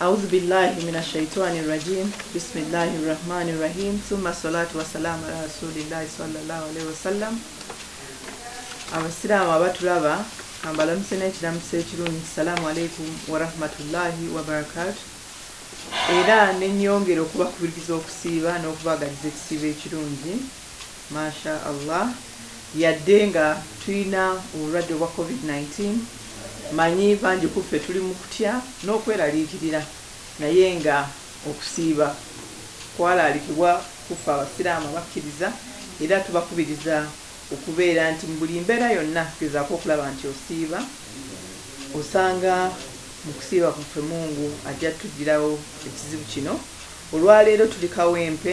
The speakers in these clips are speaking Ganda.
Auzubilahi mina shaitwani rajim bisimilahi rahmani rahim summa salatu wasalamu ala rasulilahi swalalawu alaihi wasallam abasiraamu abatulaba kambalamuse n'ekiramuso ekirungi salaamu aleikum warahmatullahi wabarakatu era nenyongera okubakubiriza okusiiba n'okubagaliza ekisiibo ekirungi Ma sha Allah yadde nga tulina obulwadde obwa covid nineteen manyi bangi kuffe tuli mukutya n'okweraliikirira naye nga okusiiba kwalaalikibwa kuffe abasiraamu abakkiriza era tubakubiriza okubeera nti mubuli mbeera yonna gezaako okulaba nti osiiba osanga mukusiiba kwaffe mungu ajja tujjirawo ekizibu kino olwaleero tuli kawempe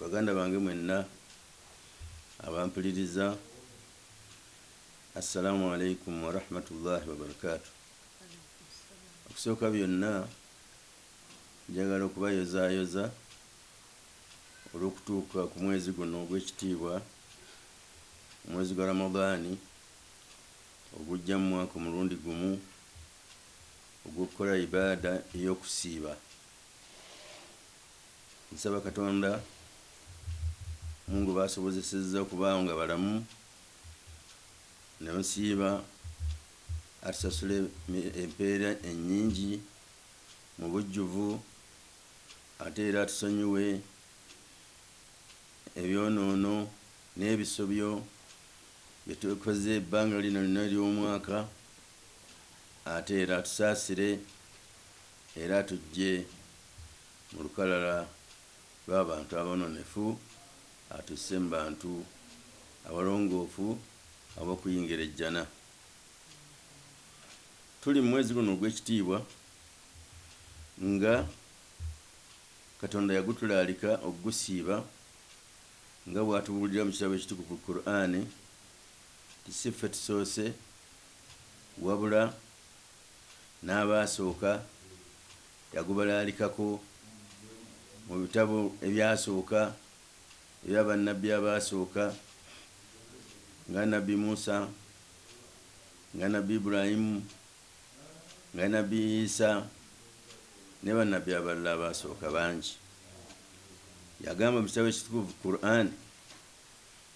Baganda bange mwenna abampuliriza Assalamu alaikum warahmatullahi wabarakatu okusooka byonna njagala okubayozaayoza olw'okutuuka ku mwezi guno ogw'ekitiibwa omwezi gwa Ramadaani ogujja mu mwaka omulundi gumu ogw'okukola Ibaada ey'okusiiba, nsaba Katonda mungu baasobozesezza okuba nga balamu nebasiiba atusasule empeera ennyingi mu bujjuvu ate era atusonyiwe ebyonoono n'ebisobyo byetukoze ebbanga lino lyonna ery'omwaka ate era atusaasire era atuggye mu lukalala lw'abantu aboononefu atusse mu bantu abalongoofu ab'okuyingira Ejjana. Tuli mu mwezi guno ogw'ekitiibwa nga Katonda yagutulaalika okugusiiba nga bw'atubuulira mu kitabo ekitukuvu Kuraane, Kati si ffe tusoose wabula n'abaasooka yagubalaalikako mu bitabo ebyasooka ebya Bannabbi abaasooka nga Nabbi Musa, nga Nabbi Ibrahim, nga Nabbi Isa ne Bannabbi abalala abaasooka bangi. Yagamba mu kitabo ekitukuvu Kur'ani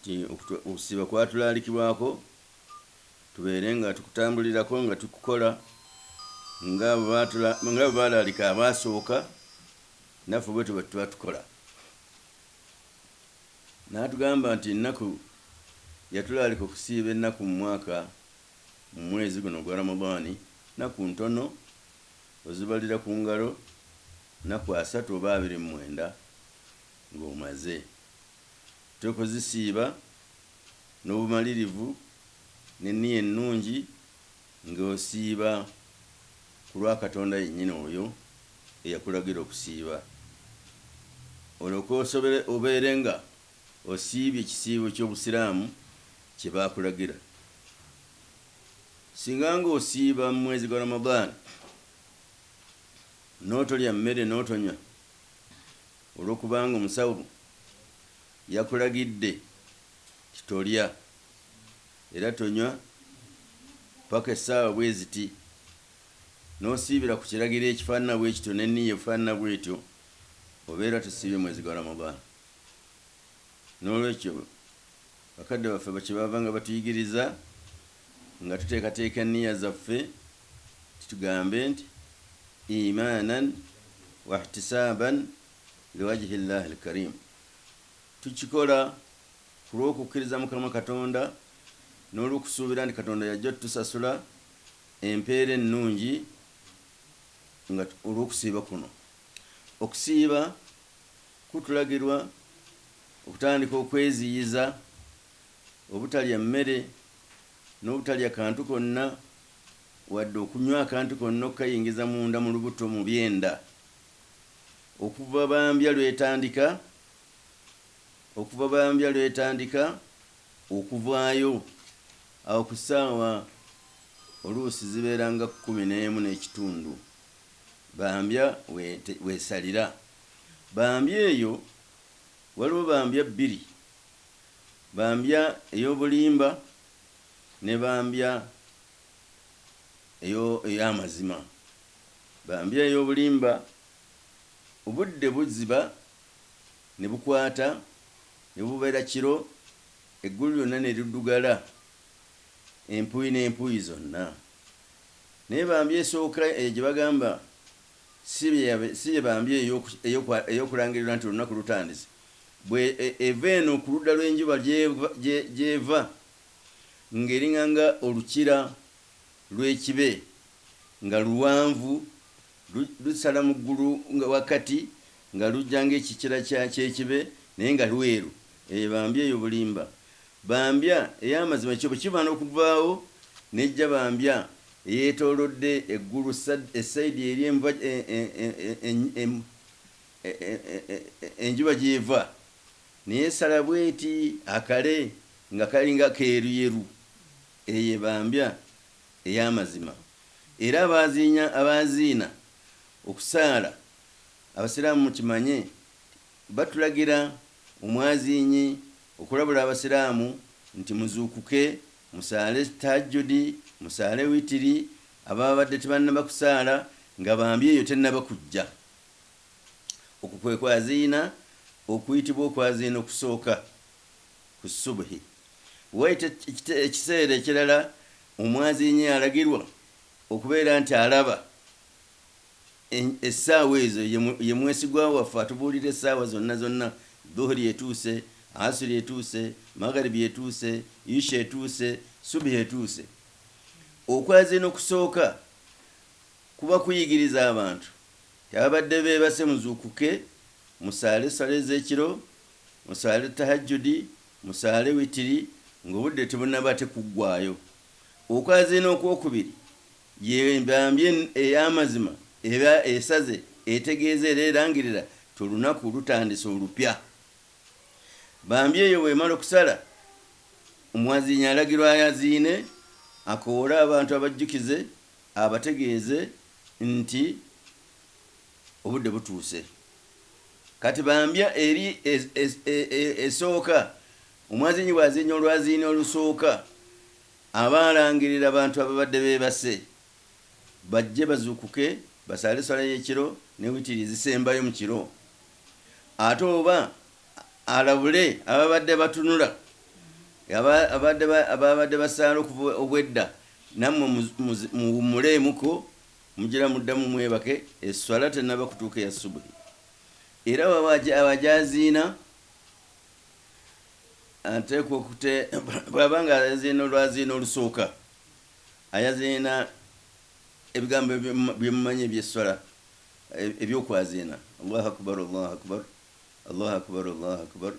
Nti okusiiba kwatulaalikibwako tubeere nga tukutambulirako nga tukukola nga bwe baalaalika abaasooka naffe bwetyo bwe tuba tukola. N'atugamba nti ennaku yatulaalika okusiiba ennaku mu mwaka mu mwezi guno ogwa Ramadaani nnaku ntono ozibalira ku ngalo nnaku asatu oba abiri mu mwenda ng'omaze. Twe kuzisiiba n'obumalirivu n'enniya ennungi nga osiiba ku lwa Katonda yennyini oyo eyakulagira okusiiba, olyoke osobole obeere nga osiibye ekisiibo ky'obusiraamu kye baakulagira. Singa nga osiiba mu mwezi gwa Ramadhan n'otolya mmere n'otonywa, Olw'okubanga omusawo yakulagidde nti tolya era tonywa ppaka essaawa bwe ziti, n'osiibira ku kiragiro ekifaanana bwe kityo n'enniya efaanana bw'etyo, obeera tosiibye mwezi gwa Ramadhan. N'olwekyo, bakadde baffe kye baavanga batuyigiriza Nga tuteekateeka enniya zaffe, tugambe nti, Iimaanan wahtisaaban liwajhi Llaahi lkariim, Tukikola ku lw'okukkiriza Mukama Katonda n'olw'okusuubira nti Katonda y'ajja otusasula empeera ennungi nga olw'okusiiba kuno. Okusiiba kutulagirwa okutandika okweziyiza. obutalya mmere, n'obutalya kantu konna, wadde okunywa akantu konna okukayingiza munda mu lubuto mu byenda, okuva bambya lw'etandika, okuva bambya lw'etandika okuvaayo, awo ku ssaawa oluusi zibeera nga kkumi n'emu n'ekitundu, bambya w'esalira. Bambya eyo waliwo bambya bbiri. Bambya ey'obulimba ne bambya eyo ey'amazima. Bambya ey'obulimba obudde buziba ne bukwata ne bubeera kiro, eggulu lyonna ne liddugala empuyi n'empuyi zonna. Naye bambya esooka eyo gye bagamba si bye bambya ey'okulangirirwa nti olunaku lutandise. bwe e, eva eno ku ludda lw'enjuba gy'eva, gye, gy'eva, nga eringanga olukira lw'ekibe, nga luwanvu, lu, lusala mu ggulu nga wakati, nga lujja nga ekikira kya, ky'ekibe, naye nga lweru. Eyo bambi, eyo bulimba. Bambi, ey'amazima kyo bwe kiba n'okuvaawo, n'ejja bambi eyeetoolodde eggulu, sad, e sayidi eri enva, e, e, e, e, e, e, e, e, e, e, enjuba gy'eva n'esala bw'eti akale nga kalinga keeruyeru, eyo ebambya ey'amazima. Era abaaziinya, abaaziina okusaala, Abasiraamu mukimanye nti batulagira omwaziinyi okulabula Abasiraamu nti muzuukuke musaale Tahajjudi, musaale Witiri, ababadde tebannaba kusaala nga bambya eyo tennaba kujja. Okwo kwe kwaziina okuyitibwa okwaziina okusooka ku Subhi. Wayita ekiseera ekirala omwaziinyi alagirwa okubeera nti alaba essaawa ezo, ye mwesigwa waffe atubuulira essaawa zonna zonna, Dhuhuri etuuse, Asri etuuse, Magharibi etuuse, Isha etuuse, Subhi etuuse. Okwaziina okusooka kuba kuyigiriza abantu Ababadde beebase muzuukuke musaale essala ez'ekiro, musaale Tahajjudi, musaale witiri ng'obudde tebunnaba ate kuggwaayo. Okwaziina okwokubiri ye mbambye ey'amazima eba esaze, etegeeza era erangirira nti olunaku lutandise olupya. Bambye eyo bw'emala okusala, omwaziinyi alagirwa ayaziine, akoowole abantu abajjukize abategeeze nti obudde butuuse kati bambya eri esooka omwaziinyi bw'aziinya olwaziini olusooka aba alangirira bantu ababadde beebase bajje bazuukuke basaale esswala y'ekiro ne witiri ezisembayo mu kiro ate oba alabule ababadde batunula ababadde basaala obwedda Nammwe muwummuleemuko, mugira muddamu mwebake, esswala tennaba kutuuka eya subuhi. Era bw'aba ajaziina, ateekwa okute, bw'aba nga ayaziina olwaziina olusooka, ayaziina ebigambo bye mumanyi eby'esswala, eby'okwaziina, Allahu Akubaru, Allahu Akubaru, Allahu Akubaru, Allahu Akubaru.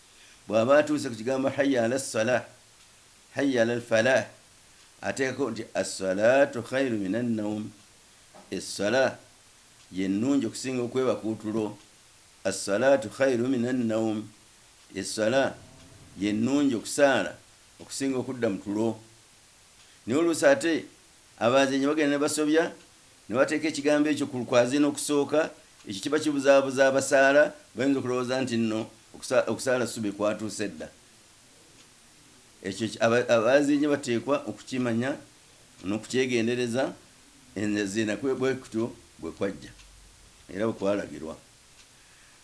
Bw'aba atuuse ku kigambo Hayya ala ssalah, Hayya alal falaah, ateekako nti, As-salaatu khairu mina nnawm, Esswala ye nnungi okusinga okwebaka otulo, As-salaatu khairu mina nnawm, Esswala ye nnungi, okusaala, okusinga okudda mu tulo. Naye oluusi ate abaazinye bagenda ne basobya Ne bateeka ekigambo ekyo ku lukwazi n'okusooka, ekyo kiba kibuzaabuza abasaala, bayinza okulowooza nti nno okusa, okusaala ssubi kwatuuse dda. Ekyo ki, aba, abaazinye bateekwa okukimanya n'okukyegendereza, enziina kwe, bwe kutyo bwe kwajja, era bwe kwalagirwa.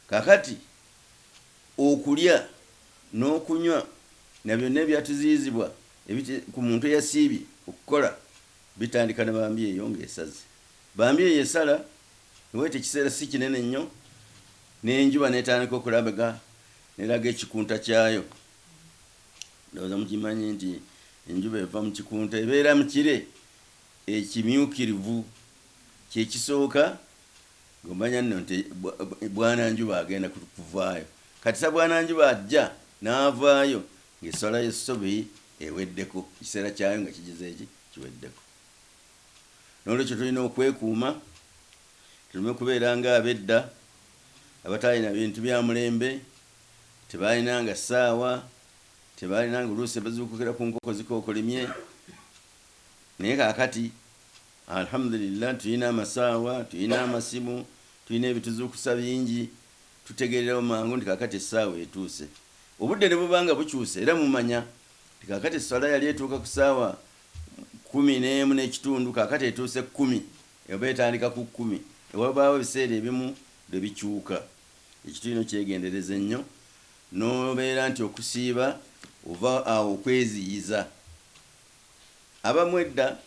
Kaakati, okulya, n'okunywa, na byonna ebyatuziyizibwa, ebit, ku muntu eyasiibye, okukola. Bitandika ne bambi eyo nga esaze. Bambi eyo esala neweta ekiseera si kinene nnyo n'enjuba n'etandika okulabga n'eraga ekikunta kyayo. Ndowooza mukimanyi nti enjuba eva mu kikunta ebeera mu kire ekimyukirivu. Kye kisooka ng'omanya nno nti bwananjuba agenda kuvaayo. Kati sa bwananjuba ajja n'avaayo Ng'esswala y'essubi eweddeko, ekiseera kyayo nga kigize ki? Kiweddeko. N'olwekyo tulina okwekuuma tulume kubeera ng'abedda abataalina bintu bya mulembe, tebaalinanga ssaawa, tebaalinanga oluusi bazuukukira ku nkoko zikookolimye naye kaakati Alhamudulillah tulina amasaawa, tulina amasimu, tulina ebituzuukusa bingi. Tutegeererawo mangu nti kaakati essaawa etuuse. Obudde ne buba nga bukyuse, era mumanya nti kaakati esswala yali etuuka ku ssaawa kkumi n'emu n'ekitundu, kaakati etuuse kkumi, oba etandika ku kkumi. E, wabaawo ebiseera ebimu lwe bikyuka. Ekitu ino kyegendereza ennyo, n'obeera nti okusiiba ova awo okweziyiza. Abamu edda.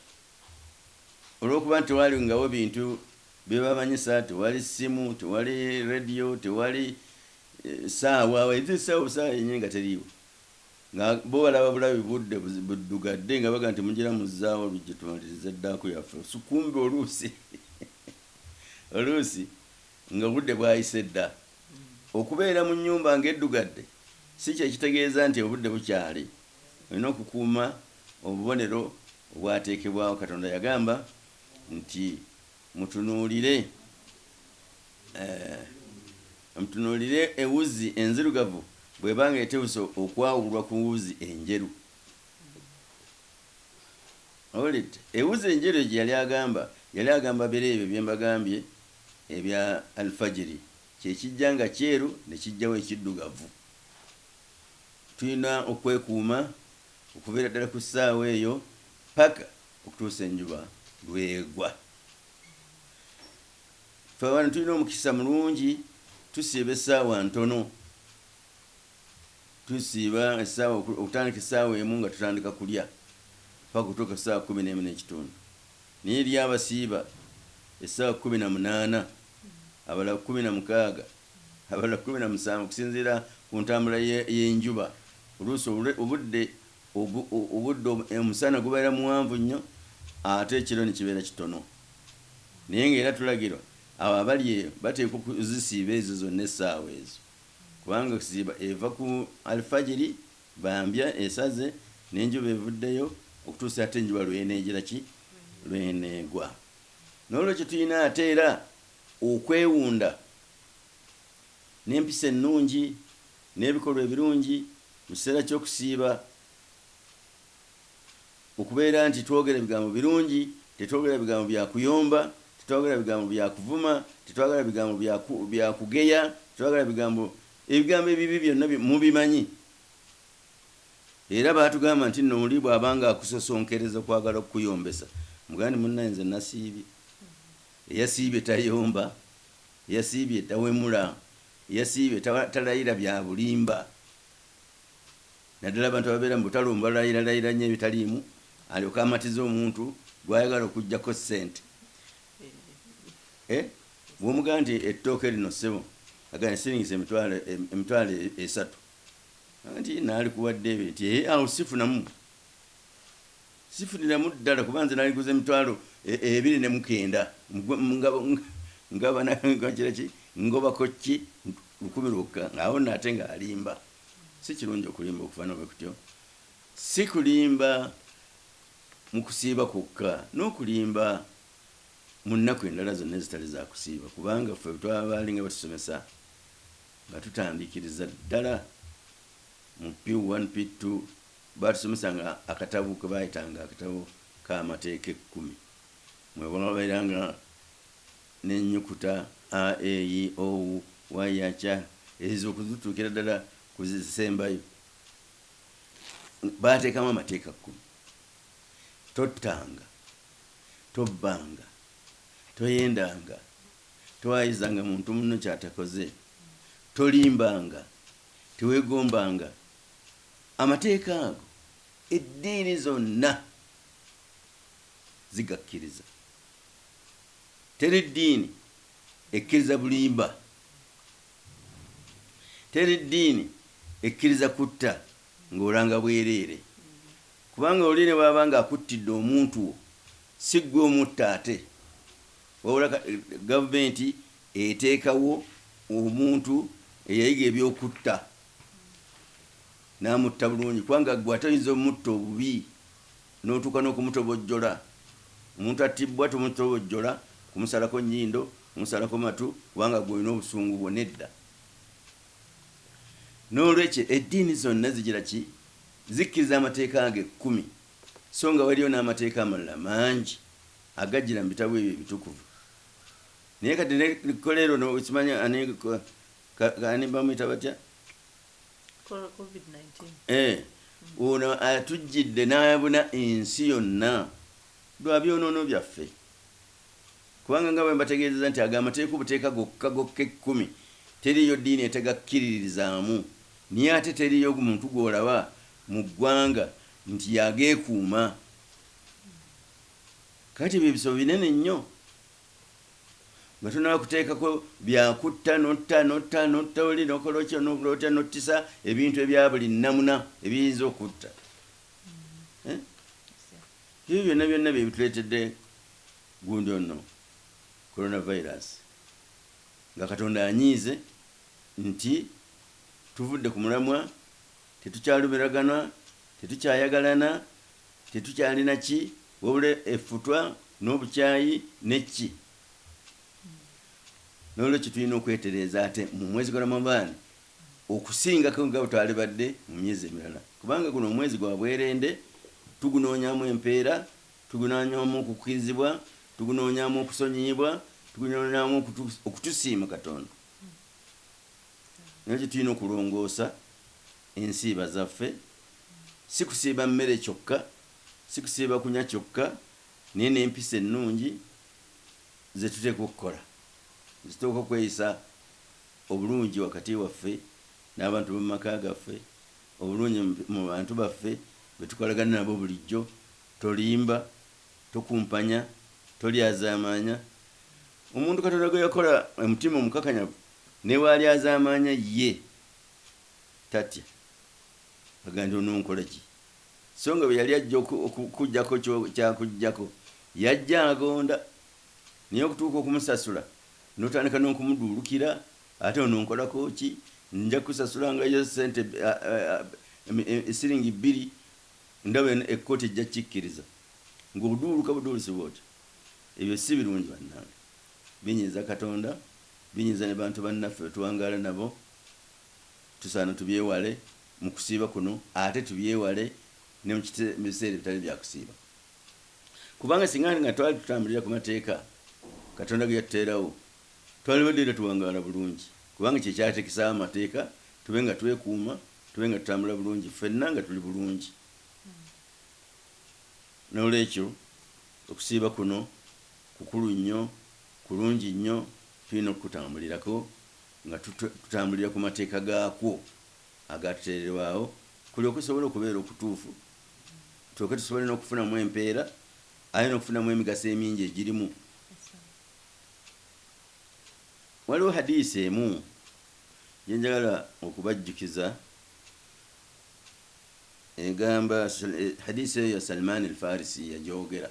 olwokuba nti tewalingawo bintu byebamanyisa, tewali ssimu, tewali radio, tewali ssaawa, even ssaawa obusaawa yennyini nga teriiwo, nga bo balaba bulabi budde buddugadde nga bagamba nti mugira muzzaawa oluggi tumalirize ddaaku yaffe kumbe oluusi oluusi nga obudde bwayise dda. Okubeera mu nnyumba nga eddugadde si kyekitegeeza nti obudde bukyali. Olina okukuuma obubonero obwateekebwawo. Katonda yagamba nti, Mutunuulire, eh, mutunuulire ewuzi enzirugavu bw'eba nga eteuse okwawulwa ku wuzi enjeru. Owulidde? Ewuzi enjeru egyo yali agamba, yali agamba biro ebyo bye mbagambye ebya Al-Fajiri, kye kijja nga kyeru ne kijjawo ekiddugavu. Tulina okwekuuma okuviira ddala ku ssaawa eyo ppaka okutuusa enjuba lw'egwa. Ffe wano tulina omukisa mulungi, tusiiba essaawa ntono. Tusiiba essaawa, okutandika essaawa emu nga tutandika kulya ppaka okutuuka ku ssaawa kkumi n'emu n'ekitundu. Naye eriyo abasiiba essaawa kkumi na munaana, abalala kkumi na mukaaga. Abala kkumi na musanvu okusinziira ku ntambula y'enjuba. Oluusi obudde obudde omusana gubeera muwanvu nnyo ate ekiro ne kibeera kitono. Naye ng'era tulagirwa abo abali eyo bateekwa okuzisiiba ezo zonna essaawa ezo kubanga okusiiba eva ku Alfajiri bambya esaze n'enjuba evuddeyo okutuusa ate enjuba lw'eneegira ki? Lw'eneegwa. Noolwekyo tulina ate era. Okwewunda n'empisa ennungi n'ebikolwa ebirungi mu kiseera ky'okusiiba, Okubeera nti twogera bigambo birungi, tetwogera bigambo bya kuyomba, tetwagala bigambo bya kuvuma, tetwagala bigambo bya bya kugeya, tetwagala bigambo, ebigambo ebibi byonna mubimanyi. Era baatugamba nti nno oli bw'abanga akusosonkereza okwagala okukuyombesa, mugamba nti munnaaye nze nasiibye. Eyasiibye tayomba, eyasiibye tawemula, eyasiibye talayira bya bulimba naddala abantu ababeera mu butale omu balayiralayira nnyo ebitaliimu alyoke amatize omuntu gw'ayagala okuggyako ssente. Bw'omugamba nti ettooke lino ssebo agamba nti siringisi emitwalo emitwalo esatu nti naalikuwadde ebiri nti eeh awo sifunamu. Sifuniramu ddala kuba nze naliguze emitwalo ebiri ne mukenda ngobako ki lukumi lwokka nga awo nno ate nga alimba si kirungi okulimba okufana bwe kutyo si kulimba mu kusiiba kwokka n'okulimba mu nnaku endala zonna ezitali za kusiiba kubanga ffe bwe twaba baalinga batusomesa nga tutandikiriza ddala mu P1 P2 Baatusomesanga akatabo ke baayitanga akatabo k'Amateeka Ekkumi, mwe waabeeranga n'ennyukuta a, e, i, o, u, wa, ya, ca, ezo okututuukira ddala ku ze zisembayo. Baateekamu amateeka kkumi, Tottanga, tobbanga, toyendanga, towaayizanga muntu munno ky'atakoze, tolimbanga, teweegombanga Amateeka ago eddiini zonna zigakkiriza. Teri ddiini ekkiriza bulimba. Teri ddiini ekkiriza kutta ng'olanga bwereere. Kubanga oli ne bw'aba ng'akuttidde omuntu wo, si ggwe omutta ate, wabula gavumenti eteekawo omuntu eyayiga eby'okutta. n'amutta bulungi kubanga ggwe ate oyinza omutta obubi n'otuuka n'okumutobojjola. Omuntu attibbwa tomutobojjola kumusalako nnyindo, kumusalako matu kubanga ggwe olina obusungu bwo, nedda. N'olwekyo eddiini zonna zigira ki? Zikkiriza amateeka ago ekkumi sso nga waliyo n'amateeka amalala mangi agajjira mu bitabo ebyo ebitukuvu. Naye kati ne kko leero no, simanyi ani, ka- ka- ani bamuyita batya Cor- COVID-19. Eh, ono atujjidde n'ayabuna ensi yonna lwa byonoono byaffe kubanga nga bwe mbategeezeza nti ago amateeka obuteeka gokka gokka ekkumi teriiyo ddiini etegakkiririzaamu naye ate teriiyo muntu gw'olaba mu ggwanga nti y'ageekuuma kati ebyo ebisabo binene nnyo nga tonaba kuteekako bya kutta notta notta notta oli nokola otya nokola otya nottisa ebintu ebya buli nnamuna ebiyinza okutta eh? ebyo byonna byonna byebituleetedde gundi onno coronavirus nga katonda anyiize nti tuvudde ku mulamwa tetukyalumiragana tetukyayagalana tetukyalina ki Wabula effutwa n'obukyayi ne kki. N'olwekyo tulina okwetereeza ate mu mwezi gwa Ramadhan okusingako nga bwetwalibadde mu myezi emirala kubanga guno omwezi gwa bwerende, tugunoonyamu empeera, tugunoonyamu okukirizibwa, tugunoonyamu okusonyiyibwa, tugunoonyamu okutusiima Katonda. N'olwekyo tulina okulongoosa ensiiba zaffe, si kusiiba mmere kyokka. Si kusiiba kunywa kyokka, naye n'empisa ennungi ze tuteekwa okukola. Zituuka ku kweyisa obulungi wakati waffe n'abantu b'omu maka gaffe, obulungi mu bantu baffe be tukolagana nabo bulijjo. Tolimba, tokumpanya, tolyazaamaanya. Omuntu Katonda gwe yakola e mutima omukakanyavu ne bw'alyazaamaanya ye tatya. Agamba nti, Ononkola ki? So nga bwe yali ajja oku, okukujjako kyo kyakujjako, yajja agonda, naye okutuuka okumusasula, n'otandika n'okumuduulukira, ate ononkolako ki? Nja kukusasula nga yo ssente bbi, a, a, a, a, e, siringi bbiri, ndaba eno ekkooti ejja kukikkiriza. Nga oduuluka buduulusi bw'otyo! Ebyo si birungi, bannange. Binyiiza Katonda, binyiiza ne bantu bannaffe be tuwangaala nabo. Tusaana tubyewale. mu kusiiba kuno ate tubyewale ne mu biseera ebitali bya kusiiba kubanga singa nga twali tutambulira ku mateeka Katonda ge yatuteerawo twalibadde era tuwangaala bulungi kubanga kye kyateekesaawo amateeka tube nga twekuuma, tube nga tutambula bulungi ffenna nga tuli bulungi. N'olwekyo okusiiba kuno kukulu nnyo, kulungi nnyo, tulina okukutambulirako nga tutambulira ku mateeka gaakwo. agatuteererwawo kulyoke kusobole okubeera okutuufu tulyoke tusobole n'okufunamu empeera aye n'okufunamu emigaso emingi egirimu. Waliwo hadiisi emu gye njagala okubajjukiza egamba, hadiisi eyo Salman al-Farisi yagyogera.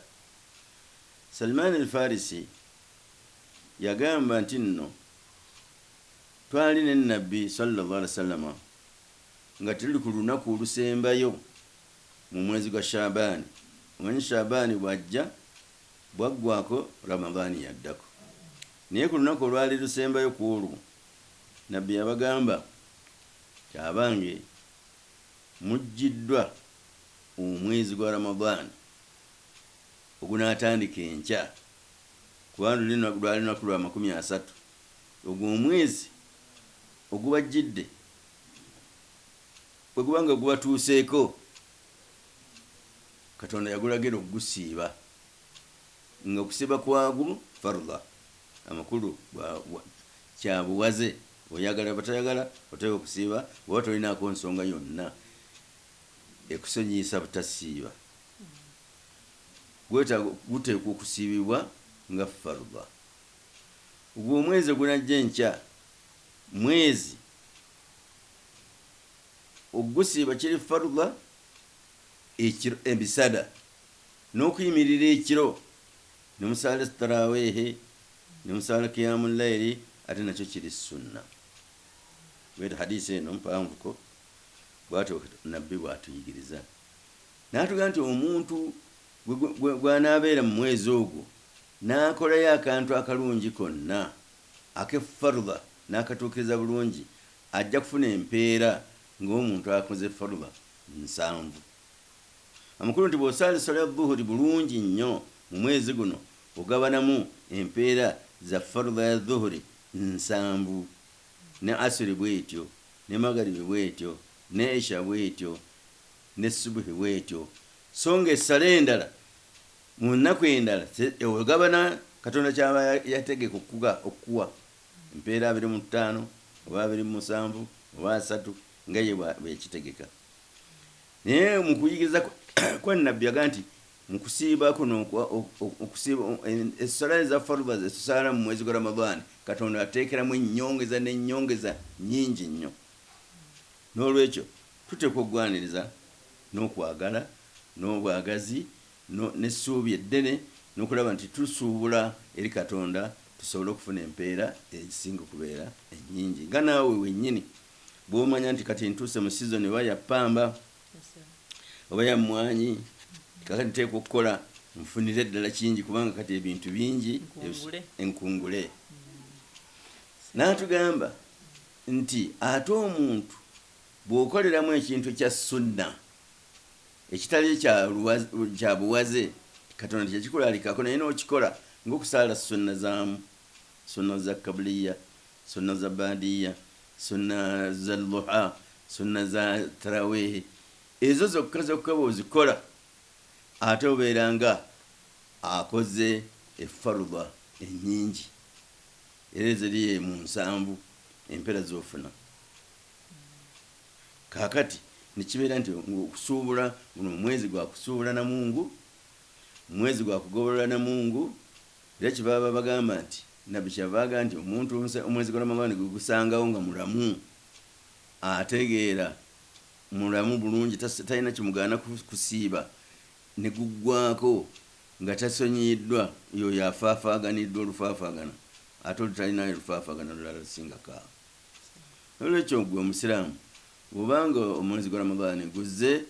Salman al-Farisi yagamba nti nno, Twali ne Nnabbi, swalla Llaahu alaihi wasallama, nga tuli ku lunaku olusembayo mu mwezi gwa Sha'abaani. Omanyi Sha'abaani bw'ajja, bw'aggwaako Ramadaani y'addako. Naye ku lunaku olwali lusembayo ku olwo, Nnabbi yabagamba nti, Abange! Mujjiddwa omwezi gwa Ramadaani ogunaatandika enkya, kubanga luli lwali lunaku lwa makumi asatu. Ogwo omwezi ogubajjidde bwe guba nga gubatuuseeko, Katonda yagulagira okugusiiba, nga okusiiba kwagwo fardha, amakulu, bwa, bwa, kya buwaze, oyagala oba toyagala oteekwa okusiiba, bw'oba tolinaako nsonga yonna ekusonyiyisa butasiiba. Gwetaaga, guteekwa okusiibibwa nga fardha. Ogwo omwezi ogunajja enkya mwezi okugusiiba kiri fardha ekiro emisana n'okuyimirira ekiro ne musaala taraweehe ne musaala kiyaamu layiri ate nakyo kiri sunna. Bw'etyo hadiisi eno mpanvuko bw'atyo Nabbi bw'atuyigiriza n'atugamba nti omuntu gwe gwe gwe gw'anaabeera mu mwezi ogwo, N'akolayo akantu akalungi konna ake Fardha n'akatuukiriza bulungi, ajja kufuna empeera ng'omuntu akoze Fardha nsanvu. Amakulu nti bw'osaala esswala ya Dhuhuri bulungi nnyo mu mwezi guno, ogabanamu empeera za Fardha ya Dhuhuri nsanvu, ne Asri bw'etyo, ne Magharibi bw'etyo, ne Isha bw'etyo, ne Subuhi bw'etyo, so ng'essala endala, Mu nnaku endala, se, oyo gabana Katonda ky'aba ya, yategeka okuga, okukuwa, empeera abiri mu ttaano, oba abiri mu musanvu, oba asatu, nga Ye bwa, bwe yakitegeka. Naye mu kuyigiriza kwa, kwa nnabbi, yagamba nti, Mu kusiiba kuno okwa, oku, okusiiba, o, e, essala eza Faruba ze tusaala mu mwezi gwa Ramadhan, Katonda ateekeramu ennyongeza n'ennyongeza nnyingi nnyo. N'olwekyo tuteekwa okugwaniriza n'okwagala, n'obwagazi, no, n'essuubi eddene, n'okulaba nti tusuubula eri Katonda tusobole okufuna empeera ezisinga okubeera ennyingi. Nga naawe wennyini bw'omanya nti kati ntuuse mu sizoni oba ya ppamba oba ya mmwanyi, nti kaakati nteekwa okukola nfunire ddala kingi kubanga kati ebintu bingi ebis, enkungule. N'atugamba nti ate omuntu bw'okoleramu ekintu kya Sunnah ekitali kya kya buwaze Katonda teyakikulaalikako naye n'okikola ng'okusaala ssunna zaamu, ssunna za kabliya, ssunna za baadiya, ssunna za dhuha, ssunna za taraweehi, ezo zokka zokka bw'ozikola ate obeera nga akoze effarudha ennyingi era eziri mu nsanvu empeera z'ofuna. Kaakati, ne kibeera nti okusuubula, guno omwezi gwa kusuubula na Mungu, mwezi gwa kugobolola na Mungu, era kyebaava bagamba nti, nnabbi kyeyava aga nti, omuntu omwezi gwa Ramadhan gwe gusangawo nga mulamu, ategeera, mulamu bulungi, tas, talina kimugaana ku, kusiiba, ne guggwaako nga tasonyiyiddwa, y'oyo afaafaaganiddwa olufaafaagana ate olutalinayo lufaafaagana lulala lusingako awo. N'olwekyo ggwe Omusiraamu bw'oba nga omwezi gwa Ramadhani guzze,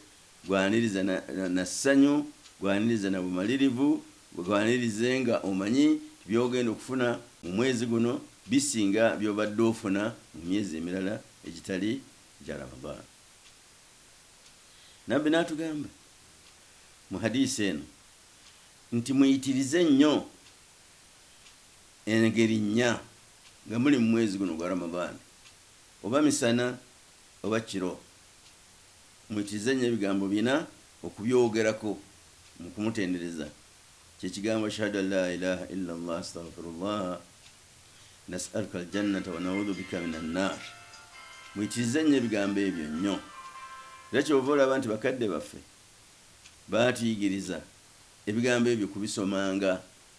gwaniriza na, na, na ssanyu, gwaniriza na bumalirivu, gwanirize nga omanyi nti by'ogenda okufuna mu mwezi guno bisinga by'obadde ofuna mu myezi emirala egitali gya Ramadhani. Nabbi n'atugamba mu hadiisi eno nti, Muyitirize nnyo engeri nnya. nga muli mu mwezi guno ogwa Ramadhan, oba misana oba kiro, mwitirize nnyo ebigambo bina okubyogerako mu kumutendereza, kye kigambo, Ashhadu an laa ilaaha illa Allah, Astaghfirullaha, Nas'aluka al-jannata wa na'udhu bika mina nnaar. Mwitirize nnyo ebigambo ebyo nnyo. Era ky'ova olaba nti bakadde baffe baatuyigiriza ebigambo ebyo kubisomanga.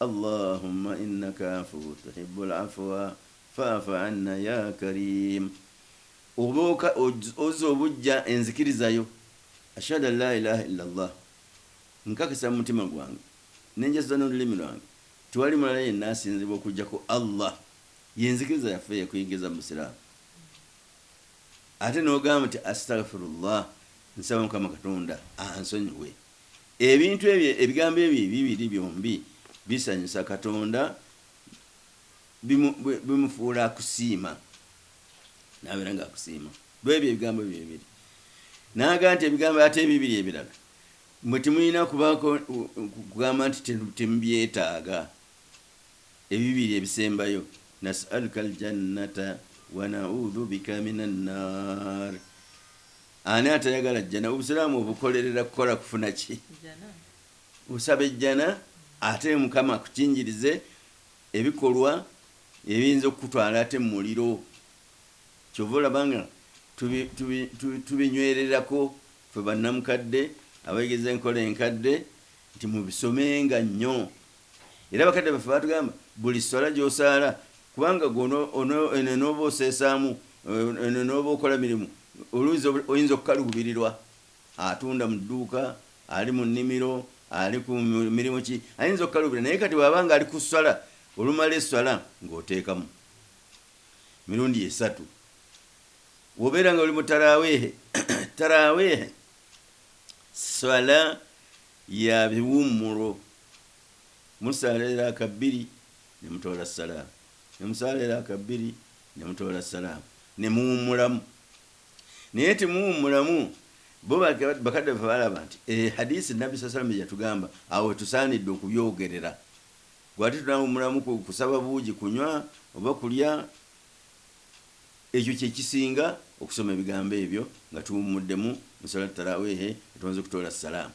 Allahumma innaka afuwu tuhibbul afwa fa'fu anna ya kariim Oba oka, ozza obuggya enzikiriza yo, Ashhadu an laa ilaaha illa Allah, Nkakasa mu mutima gwange ne njasuza n'olulimi lwange tewali mulala yenna asinzibwa okuggyako Allah, y'enzikiriza yaffe eyakuyingiza mu Busiraamu, ate n'ogamba nti, Astaghfirullah, Nsaba Mukama Katonda ansonyiwe. Ebintu ebyo, ebigambo ebyo ebibiri byombi bisanyusa Katonda, bimu, bimufuula akusiima, n'abeera nga akusiima lw'ebyo ebigambo ebyo ebibiri. N'aga nti ebigambo ate ebibiri ebirala mwe temulina kubaako kugamba nti temubyetaaga, ebibiri ebisembayo, Nas'aluka al-jannata wa na'udhu bika minan-naar. Ani atayagala jjana? Obusiraamu obukolerera kukola kufuna ki? Osaba ejjana ate Mukama akukinjirize ebikolwa ebiyinza okukutwala ate mu muliro. Kyova olaba nga tubinywererako ffe bannamukadde abayigiza enkola enkadde nti mubisomenga nnyo Era bakadde baffe baatugamba buli sswala gy'osaala kubanga ggwe ono, ono, eno enooba oseesaamu, eno enooba okola mirimu, oluuzi obu, oyinza okukaluubirirwa. Atunda mu dduuka, ali mu nnimiro, ali ku mirimu ki, ayinza okukaluubira. Naye kati bw'aba nga ali ku sswala, olumala esswala ng'oteekamu mirundi esatu. Bw'obeera nga oli mu taraawiihi, taraawiihi sswala ya biwummulo musaala eraaka bbiri ne mutoola ssalaama, ne musaala eraaka bbiri ne mutoola ssalaama ne muwummulamu. Naye temuwummulamu, bo bakadde baffe balaba nti e, hadiisi Nabbi saa salama yatugamba awo we tusaanidde okubyogerera. Gwe ate tunawummulamu ku, kusaba buugi, kunywa oba kulya. Ekyo kye kisinga, okusoma ebigambo ebyo nga tuwummuddemu mu Salaatu Taraawiihi nga tumaze okutoola ssalaama.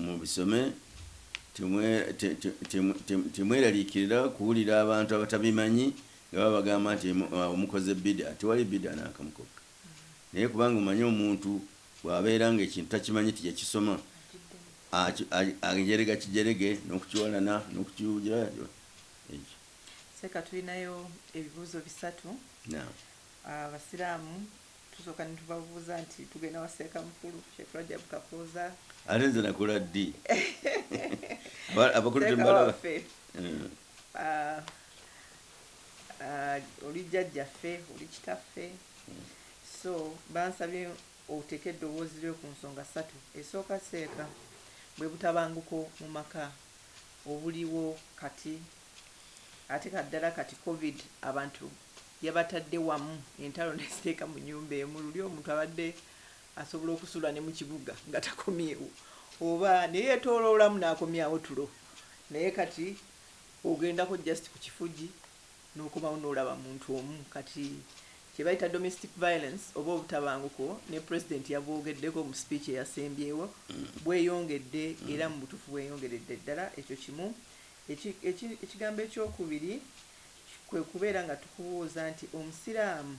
Mubisome, temweraliikirira kuwulira abantu abatabimanyi nga babagamba nti awo mukoze bid'ah. Tewali bid'ah n'akamu kokka. Naye kubanga omanyi omuntu bw'abeera nga ekintu takimanyi nti yakisoma, ajerega kijerege n'okukiwalana n'okukiwugira, ekyo. Seeka tulinayo ebibuuzo bisatu. Naam. Abasiraamu Tusooka ne tubabuuza nti tugenda wa Sseekamukulu, Sheikh Rajab Kakooza. Ate nze nakola ddi? Abakulu tembalaba. Hmm. Ah, ah, oli jjajjaffe, oli kitaffe. Hmm. So bansabye oteeka eddoboozi lyo ku nsonga ssatu. Esooka seeka bwe butabanguko mu maka obuliwo kati Ate kaddala kati covid abantu yabatadde wamu entalo naziteeka mu nyumba emu luli omuntu abadde asobola okusula ne mukibuga nga takomyewo oba neyetoloolamu nakomyawo tulo naye kati ogendako just ku kifugi nokomawo nolaba muntu omu kati kyebayita domestic violence oba obutabanguko ne president yabwogeddeko mu speech eyasembyewo bweyongedde era mu butuufu bweyongeredde ddala ekyo kimu Eki, eki, ekigambo eky'okubiri kwe kubeera nga tukubuuza nti, Omusiraamu,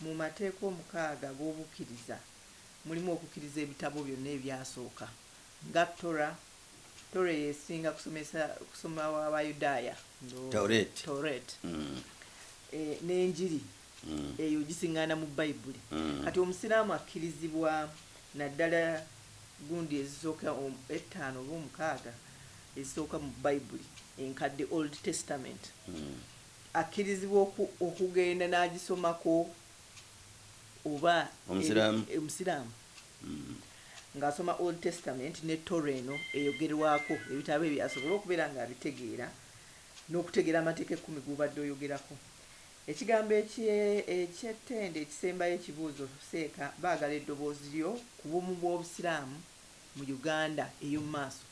mu mateeka omukaaga ag'obukkiriza mulimu okukkiriza ebitabo byonna ebyasooka, nga Torah, Torah eyo esinga kusomesa, kusoma wa Bayudaaya, ndowooza, Taureet, Taureet, mm. e, n'Enjiri. eyo gising'aana mu Bayibuli. Kati Omusiraamu akkirizibwa naddala gundi ezisooka ettaano oba omukaaga ezisooka mu Bayibuli enkadde, Old Testament, akkirizibwa okugenda n'agisomako oba Omusiraamu ng'asoma Old Testament ne Torah eno eyogerwako, ebitabo ebyo asobole okubeera ng'abitegeera n'okutegeera Amateeka Ekkumi g'obadde oyogerako. Ekigambo ekye, eky'ettendo ekisembayo ekibuuzo seeka baagala eddoboozi lyo ku bumu bw'Obusiraamu mu Uganda ey'omu maaso.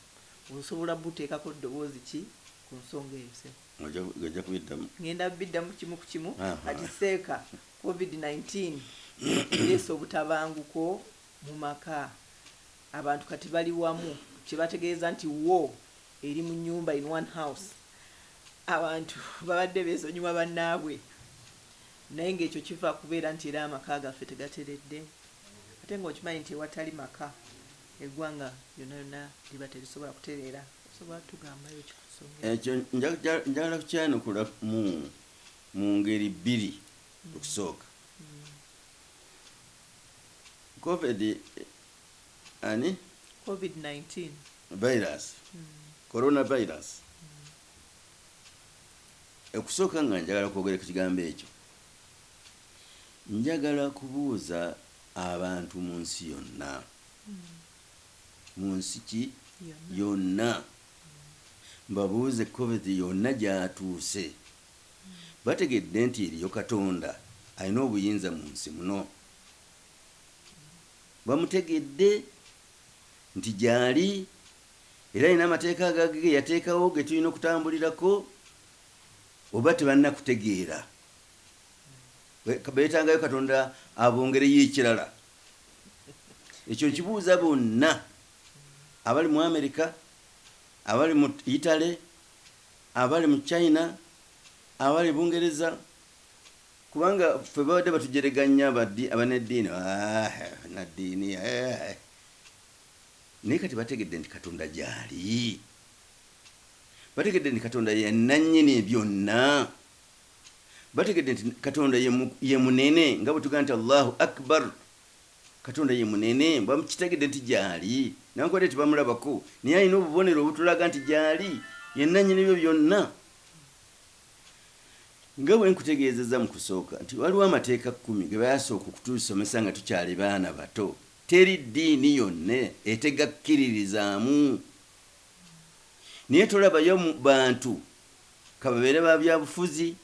Osobola buteekako ddoboozi ki ku nsonga eyo ssebo? Ojja, ojja kubiddamu. Ngenda biddamu kimu ku kimu. Kati seeka, covid nineteen ereese obutabanguko mu maka. Abantu kati bali wamu, kye bategeeza nti war eri mu nnyumba, in one house. Abantu babadde beesonyiwa bannaabwe naye ng'ekyo kiva ku kubeera nti era amaka gaffe tegateredde ate ng'okimanyi nti ewatali maka eggwanga lyonna lyonna liba terisobola kutereera. Osobola tugambayo ki ku nsonga eno? Ekyo njagala kukyanukula mu ngeri bbiri. Okusooka, Covid ani? Covid 19. Virus. Corona virus. Ekusooka nga njagala kwogera ku kigambo ekyo, njagala kubuuza abantu mu nsi yonna, mu nsi ki? Yonna. Mbabuuze Covid yonna gy'atuuse, bategedde nti eriyo Katonda alina obuyinza mu nsi muno? Bamutegedde nti gyali era alina amateeka agage geyateekawo getulina okutambulirako oba tebanakutegeera betangayo katonda abongereyo ekirala ekyo nkibuuza bonna abali mu America abali mu Italy abali mu China abali Bungereza Kubanga ffe babadde batujeregannya abaddi abaneddiini aah banaddiini eeh naye kati bategedde nti Katonda gyali. Bategedde nti Katonda ye nannyini byonna. Bategedde nti Katonda ye mu ye munene nga bwe tugamba nti Allahu Akbar. Katonda ye munene bakitegedde nti gyali newankubadde tebamulabako naye alina obubonero obutulaga nti gyali ye nannyini byo byonna. Nga bwe nkutegeezezza mu kusooka nti waliwo amateeka kkumi ge baasooka okutusomesa nga tukyali baana bato. Teri ddiini yonna etegakkiririzaamu. Naye tolabayo bantu, ka babeere ba byabufuzi,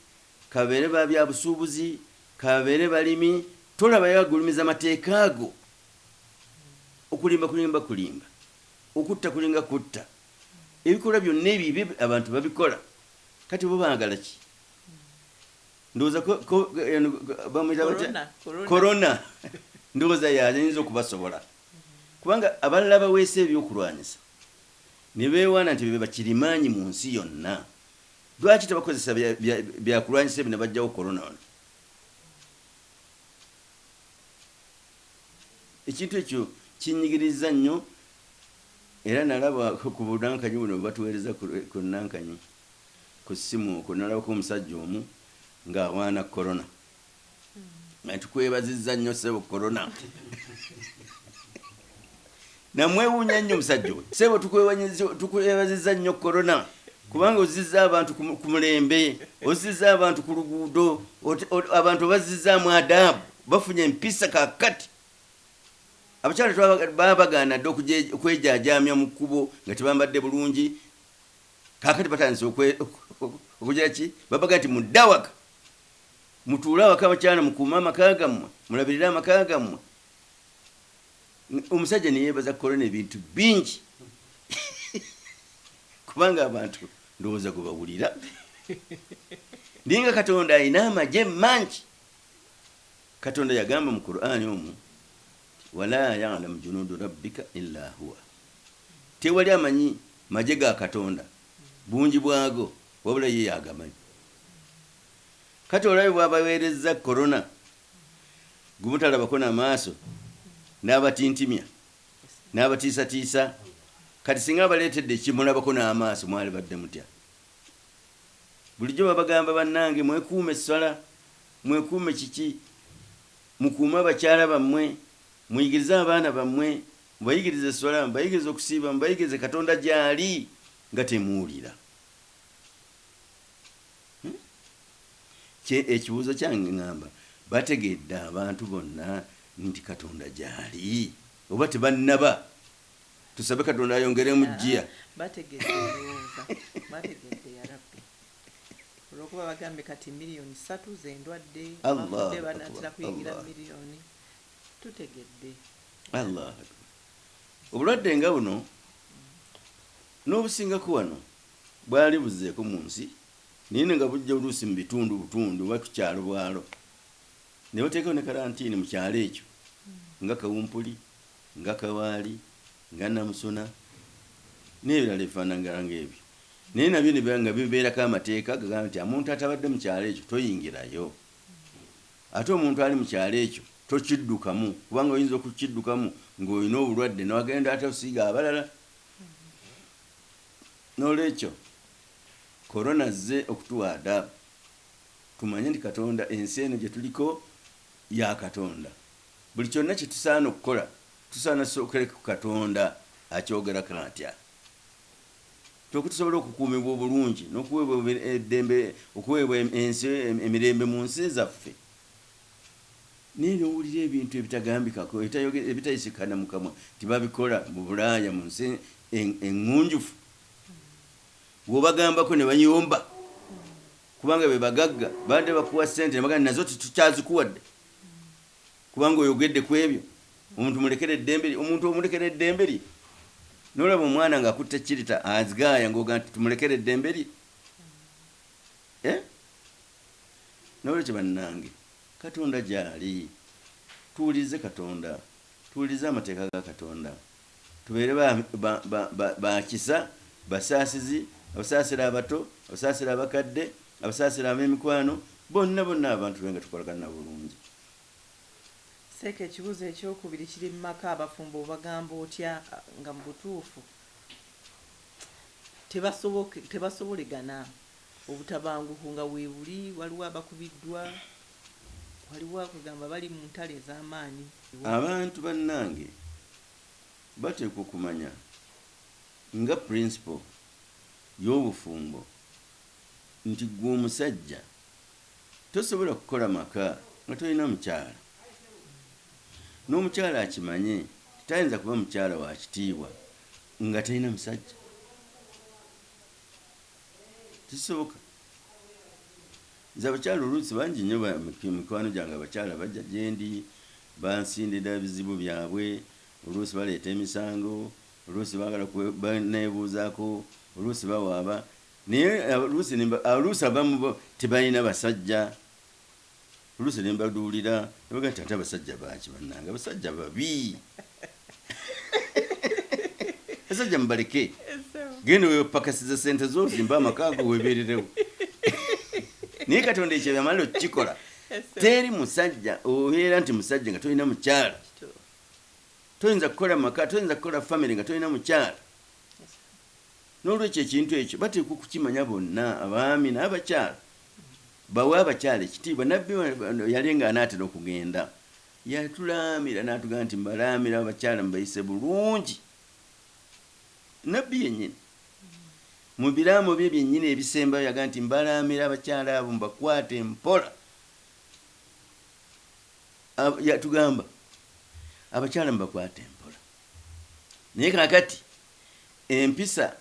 ka babeere ba byabusuubuzi, ka babeere balimi, tolabayo agulumiza mateeka ago. Okulimba kulinga kulimba. Okutta kulinga kutta. Ebikolwa byonna ebibi abantu babikola Kati bo bagala ki? Ndowoza ko ko eno bamwita batya? Corona, corona. Corona. Ndowoza yayinza okubasobola. Kubanga abalala baweesa ebyokulwanyisa ne beewaana nti be bakirimaanyi mu nsi yonna. Lwaki tebakozesa bya, bya, byakulwanyisa ebyo ne baggyawo corona ono? Ekintu ekyo kinnyigirizza nnyo Era nalaba ku bunankanyi buno bwe batuweereza ku ku nankanyi ku ssimu okwo nalabako omusajja omu nga awaana Corona nga tukwebazizza nnyo ssebo Corona namwewuunya nnyo omusajja oyo ssebo tukwewanyiza tukwebazizza nnyo Corona kubanga ozzizza abantu ku ku mulembe ozzizza abantu ku luguudo ot ot abantu obazzizaamu adaabu bafunye empisa kaakati Abakyala baba bagaana dda okwejaajaamya mu kkubo nga tebambadde bulungi, kaakati batandise okugira ki? Babagamba nti mudde awaka, mutuule awaka abakyala mukuume amaka gammwe, mulabirire amaka gammwe. Omusajja ne yeebaza Corona ebintu bingi kubanga abantu ndowooza gwe bawulira naye nga Katonda alina amagye mangi. Katonda yagamba mu Kur'ani omwo nti, Walaa ya'lamu junuudu Rabbika illaa huwa, Tewali amanyi magye ga Katonda bungi bwago wabula Ye y'agamanyi. Kati olabye bw'abaweerezza Corona gwe mutalabako na maaso, n'abatintimya, n'abatiisatiisa, kati singa abaleetedde ekimulabako n'amaaso mwalibadde mutya? Bulijjo babagamba bannange mwekuume esswala. Mwekuume kiki? Mukuume abakyala bammwe, muyigirize abaana bammwe, mubayigirize esswala, mubayigirize okusiiba, mubayigirize Katonda gy'ali nga temuwulira. Kye, ekibuuzo kyange ngamba, bategedde abantu bonna nti Katonda gy'ali, oba tebannaba? Tusabe Katonda ayongeremu Yaa, jjiya. bategedde ndowooza, bategedde yarabbi. olwokuba bagambye kati million satu zendwadde abafudde banatera kuyingira million tutegedde Allah obulwadde nga buno nobusingako wano bwali buzeeko munsi naye nga bujja oluusi mubitundu butundu oba kukyalo bwalo nebateekawo ne kalantiini mukyalo ekyo nga kawumpuli nga kawaali nga namusuna nebirala ebifanangala nga ebyo Naye nabyo ne nga bibeerako amateeka agagamba nti amuntu atabadde mu kyalo ekyo toyingirayo. Ate omuntu ali mu kyalo ekyo tokiddukamu kubanga oyinza okukiddukamu ng'olina obulwadde ne wagenda ate osiiga abalala. N'olwekyo, Corona azze okutuwa adaabu tumanye nti Katonda ensi eno gye tuliko ya Katonda. Buli kyonna kye tusaana okukola tusaana tusookere ku Katonda akyogerako atya. Kyo okutusobola okukuumibwa obulungi n'okuweebwa eddembe, okuweebwa ensi, emirembe mu nsi zaffe. Naye n'owulira ebintu ebitagambikako, ebitayisikana mu kamwa nti babikola mu Bulaaya mu nsi eŋŋunjufu. Bw'obagambako ne bayomba kubanga be bagagga, babadde bakuwa ssente ne bagamba nazo tetukyazikuwadde. Kubanga oyogedde kwebyo omuntu mulekere eddembe lye omuntu omulekera eddembe lye nolaba omwana nga akutte chirita azgaaya ngoga nti tumulekere eddembe lye eh? nolwekyo bannange katonda gyali tuwulirize katonda tuwulirize amateeka ga katonda tubeere ba, ba, ba, ba, ba kisa basaasizi abasaasira abato abasaasira abakadde abasaasira ab'emikwano bonna bonna abantu be nga tukolagana bulungi Seeka ekibuzo ekyokubiri kiri mumaka abafumbo obagamba otya nga mubutuufu tebasobolegana obutabanguko nga webuli waliwo abakubiddwa waliwo kwegamba bali muntalo ezamaanyi. Abantu banange bateekwa okumanya nga principle yobufumbo nti gwe omusajja. Tosobola kukola maka nga tolina mukyala. N'omukyala akimanye nti tayinza kuba mukyala wa kitiibwa nga talina musajja. Tekisoboka. Nze abakyala oluusi bangi nnyo mikwano gyange abakyala bajja gye ndi bansindira bizibu byabwe, oluusi baleeta emisango, oluusi baagala kuneebuuzaako, oluusi bawaaba Naye oluusi ne mba, oluusi abamu bo tebalina basajja, oluusi ne mbaduulira ne bagamba nti, ate abasajja baaki bannange, abasajja babi, abasajja mubaleke, genda wepakasize ssente zo ozimbe amaka go weebeererewo. Naye Katonda ekyo yamala okukikola. Teri musajja obeera nti musajja nga tolina mukyala, toyinza kukola maka, toyinza kukola famire nga tolina mukyala. N'olwekyo ekintu ekyo bateekwa okukimanya bonna, abaami n'abakyala. Bawe abakyala ekitiibwa. Nnabbi ono yali nga anaatera okugenda, yatulaamira n'atugamba nti, Mbalaamira abakyala mubayise bulungi. Nnabbi yennyini, mu biraamo bye byennyini ebisembayo yagamba nti, Mbalaamira abakyala abo mubakwate mpola. Yatugamba, Abakyala mubakwate mpola. Naye kaakati. empisa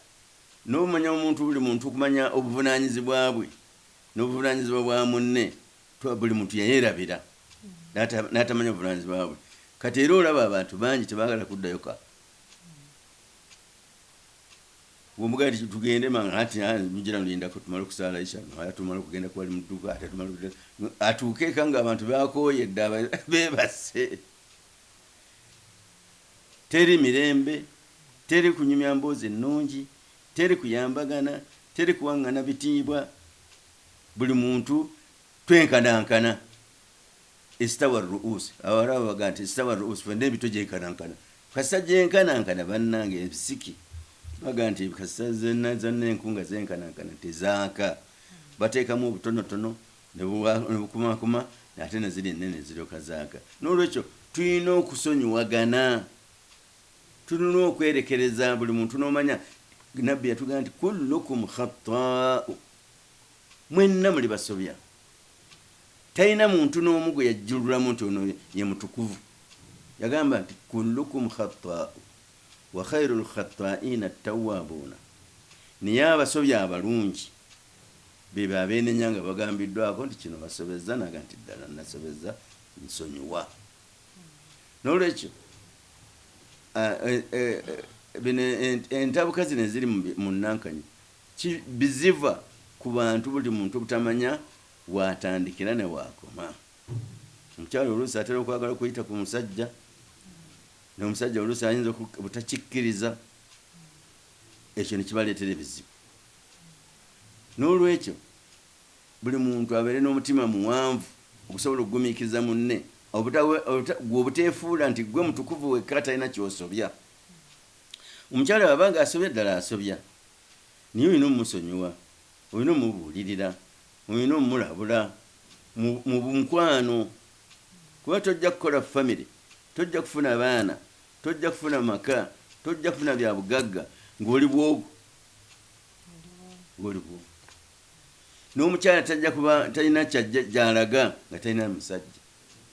n'obumanya omuntu buli muntu okumanya obuvunaanyizibwa bwe n'obuvunaanyizibwa bwa munne twa buli muntu yayerabira n'atamanya obuvunaanyizibwa bwe kati era olaba abantu bangi tebaagala kuddayo ka omugaati tugende manga ati mujira nolindako tumale okusaala isha ate tumale okugenda kuwali mu dduka ate tumale atuuke eka ng'abantu bakooyedde beebase Teri mirembe, teri kunyumya mboozi nnungi, teri kuyambagana, teri kuwang'ana bitiibwa, buli muntu twenkanankana, istawa ar-ru'us, abawarabu bagamba nti istawa ar-ru'us, fenna emitwe gyenkanankana, kasita gyenkanankana bannange ebisiki bagamba nti kasita zenna zenna enku nga zenkanankana tezaaka, bateekamu obutonotono Ne bukumakuma, ate na ziri ennene ne ziryoka zaaka. N'olwekyo, tulina okusonyiwagana. Tulina okwerekereza buli muntu n'omanya. Nabbi yatugamba nti, Kullukum khattaa'u, mwenna muli basobya. Talina muntu n'omu gwe yajjululamu nti ono ye mutukuvu. Yagamba nti, Kullukum khattaa'u, wa khairul khattaa'iina attawwaabuuna, naye abasobya abalungi Bebo abeenenya nga bagambiddwako nti kino basobezza n'agamba nti ddala nasobezza nsonyiwa. N'olwekyo bino entabuka zino eziri mu Nankanyi biziva ku bantu buli muntu obutamanya w'atandikira ne w'akoma. Omukyala oluusi atera okwagala okuyita ku musajja n'omusajja oluusi ayinza obutakikkiriza ekyo ne kibaleetera ebizibu. N'olwekyo, buli muntu abeere n'omutima muwanvu ogusobola okugumiikiriza munne, gwe obuteefuula nti ggwe mutukuvu wekka atalina ky'osobya. Omukyala bw'aba ng'asobya, ddala asobya, naye olina okumusonyiwa, olina okumubuulirira, olina okumulabula mu mukwano kuba tojja kukola famire, tojja kufuna baana, tojja kufuna maka, tojja kufuna bya bugagga ng'oli bw'ogu waliwo n'omukyala tajja kuba talina kyajja gyalaga nga talina musajja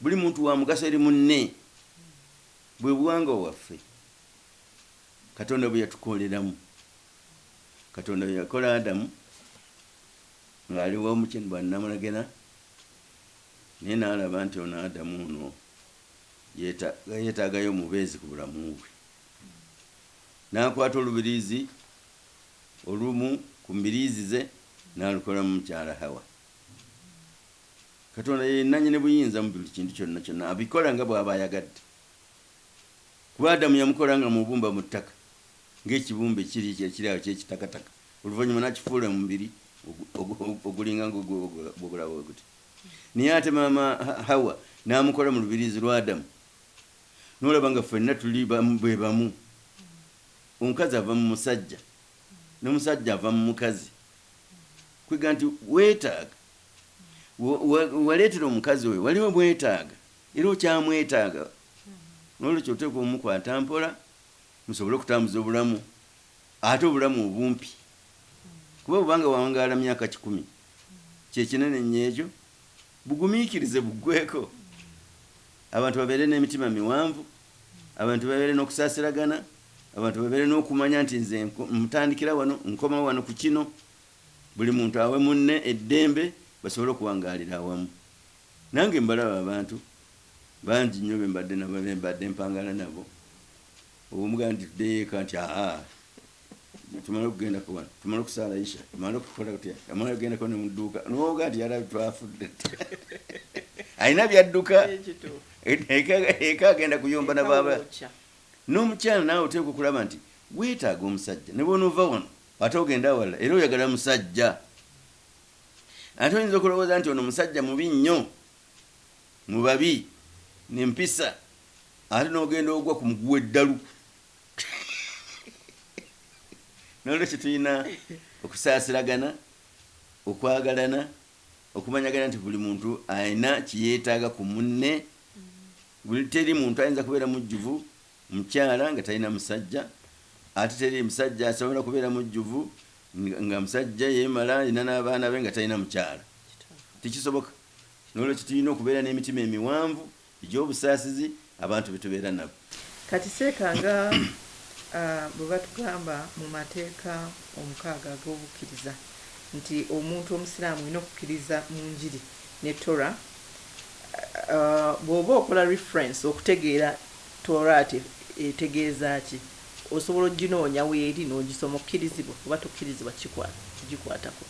buli muntu wa mugaso eri munne bwe buwanga waffe katonda bwe yatukoleramu katonda bwe yakola adamu ng'ali wamukyen bwannamulagena naye n'alaba nti ono adamu ono yeetaagayo omubeezi ku bulamu bwe n'akwata olubiriizi olumu ku mbiriizi ze n'alukola mu mukyala Hawa. Katonda ye nnannyini buyinza mu buli kintu kyonna kyonna. Abikola nga bw'aba ayagadde. Ku Adamu yamukola nga mubumba mu ttaka, ng'ekibumbe kiri ekiri awo eky'ekitakataka, oluvannyuma n'akifuula omubiri ogulinga nga gw'olaba bwe guti. Naye ate maama Hawa n'amukola mu lubiriizi lwa Adamu. Nolaba nga fenna tuli bamu bebamu omukazi ava mumusajja nomusajja ava mumukazi kwega nti wetaaga waleetera omukazi oyo wali omwetaaga era okyamwetaaga nolwekyo oteekwa omukwata mpola musobole okutambuza obulamu ate obulamu obumpi kuba bwobanga wawangaala myaka kikumi kyekinene nnyo ekyo Bugumiikirize buggweeko, abantu babeere n'emitima miwanvu, abantu babeere n'okusaasiragana, abantu babeere n'okumanya nti nze ntandikira wano, nkoma wano ku kino, buli muntu awe munne eddembe basobole okuwangaalira awamu. Nange mbalaba abantu bangi nnyo be mbadde nabo, be mbadde mpangaala nabo, omu bw'agamba nti tuddeyo eka nti, Haa! tumale okugenda kuwano tumale okusaala isha tumale okukola kutya amala ogendako ne muduuka nowoga nti yarabi twafudde alina byadduka eka agenda kuyomba nababa n'omukyala naawe oteeka okulaba nti weetaaga omusajja ne bwonoova wano ate ogenda awalala era oyagala musajja ate oyinza okulowooza nti ono musajja mubi nnyo mu babi nempisa ate n'ogenda ogwa ku muguwa eddalu nolwekyo tulina okusaasiragana okwagalana okumanyagana nti buli muntu alina kiyetaaga ku munne buli teri muntu ayinza kubeera mujjuvu mukyala nga talina musajja ate teri musajja asobola kubeera mujjuvu nga musajja yemala alina n'abaana be nga talina mukyala tekisoboka nolwekyo tulina okubeera n'emitima emiwanvu Egy'obusaasizi abantu betubeera nabo. Kati seeka nga bwebatugamba mu mateeka omukaaga ag'obukkiriza nti omuntu omusiraamu olina okukkiriza mu njiri ne Torah, bwoba okola reference okutegeera Tooraat etegeeza ki osobola ojinoonya weeri n'ojisoma okkirizibwa oba tokkirizibwa kugikwatako.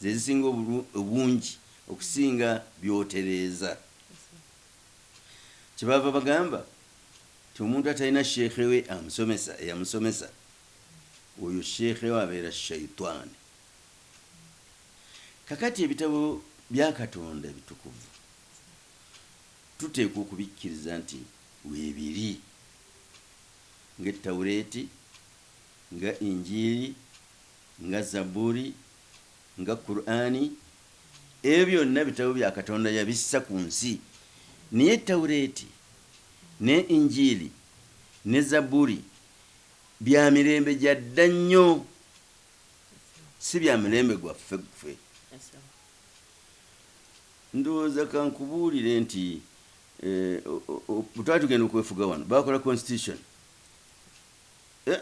Ze zisinga obungi okusinga byotereeza. Kyebaava bagamba nti omuntu atalina sheikh we amusomesa, eyamusomesa, oyo sheikh we abeera shaitan. Kakati ebitabo bya Katonda ebitukuvu tuteekwa okubikkiriza nti weebiri nga Ettawreeti, nga Injiili, Nga Zabburi, nga Kur'ani, ebyo byonna bitabo bya Katonda yabissa ku nsi. Naye Tawreeti ne Injiili ne Zabburi bya mirembe gya dda nnyo, si bya mulembe gwaffe ffe. Ndowooza ka nkubuulire nti, bwe twali tugenda okwefuga wano, baakola Constitution. Eh!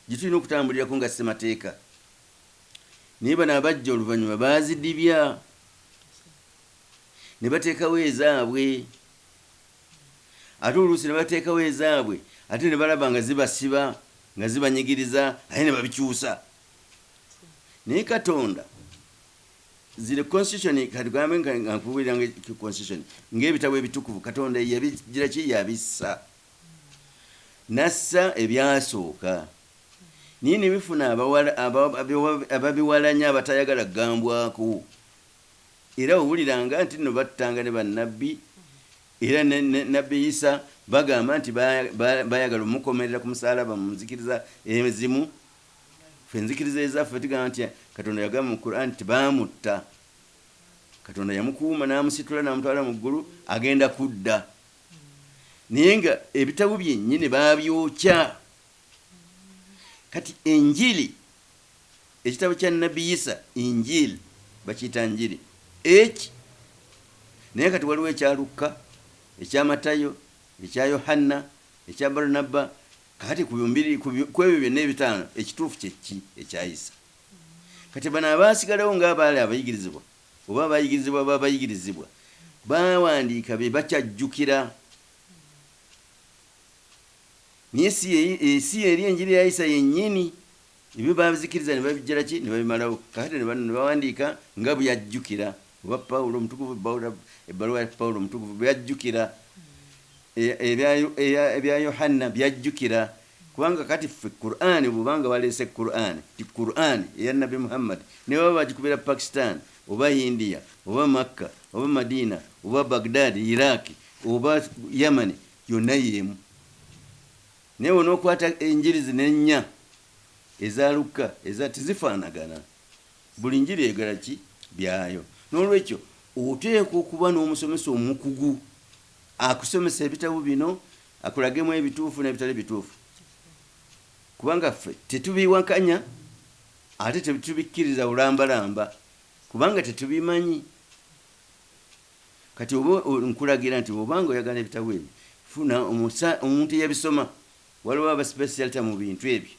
gyetulina okutambulirako nga ssemateeka naye bano abajja oluvanyuma baazidibya nebateekawo ezaabwe ate oluusi nebateekawo ezaabwe ate nebalaba nga zibasiba nga zibanyigiriza ate nebabikyusa naye katonda zile constitution katugambe nga nkubuulira nga constitution ng'ebitabo ebitukuvu katonda yabigiraki yabissa N'assa ebyasooka naye ne bifuna ababiwalanya abatayagala kugambwako. Era wawuliranga nti nno battanga ne Bannabbi era ne Nabbi Isa bagamba nti baayagala omukomerera ku musaalaba mu nzikiriza ezimu. Ffe enzikiriza ezaffe tugamba nti Katonda yagamba mu Quran nti baamutta. Katonda yamukuuma n'amusitula n'amutwala mu ggulu agenda kudda naye nga ebitabo byenyini babyokya kati enjili ekitabo kya nabbi yisa injil bakiyita njiri eki naye kati waliwo ekya lukka ekya matayo ekya yohanna ekya barnabba kati kwebyo byonna ebitaano ekituufu kyekki ekyayisa kati bano abaasigalawo nga abaali abayigirizibwa oba abayigirizibwa b'abayigirizibwa baawandiika bye bakyajjukira. Naye si ye, e, si y'eri enjiri ya Isa yennyini. Ebyo baabizikiriza ne babijjala ki, ne babimalawo. Kakati ne bano ne bawandiika nga bwe yajjukira, oba Pawulo omutukuvu, Bawula- ebbaluwa ya Pawulo omutukuvu bwe yajjukira, e- ebya Yo- eya- ebya Yohanna by'ajjukira, Kubanga kati ffe Kur'ani bwoba nga baleese Kur'ani nti Kur'ani eya Nabbi Muhammad nebaba bagikubira Pakistan oba India oba Makka oba Madina oba Baghdad, Iraq oba Yamani yonna yeemu naye wonookwata enjiri zino ennya eza Lukka eza tezifaanagana buli njiri eyogera ki byayo n'olwekyo oteekwa okuba n'omusomesa omukugu akusomesa ebitabo bino Akulagemu ebituufu n'ebitali bituufu kubanga ffe tetubiwakanya ate tetubikkiriza bulambalamba kubanga tetubimanyi. Kati oba nkulagira nti bw'oba nga oyagala ebitabo ebyo funa omuntu eyabisoma. Waliwo abasipesiyalita mu bintu ebyo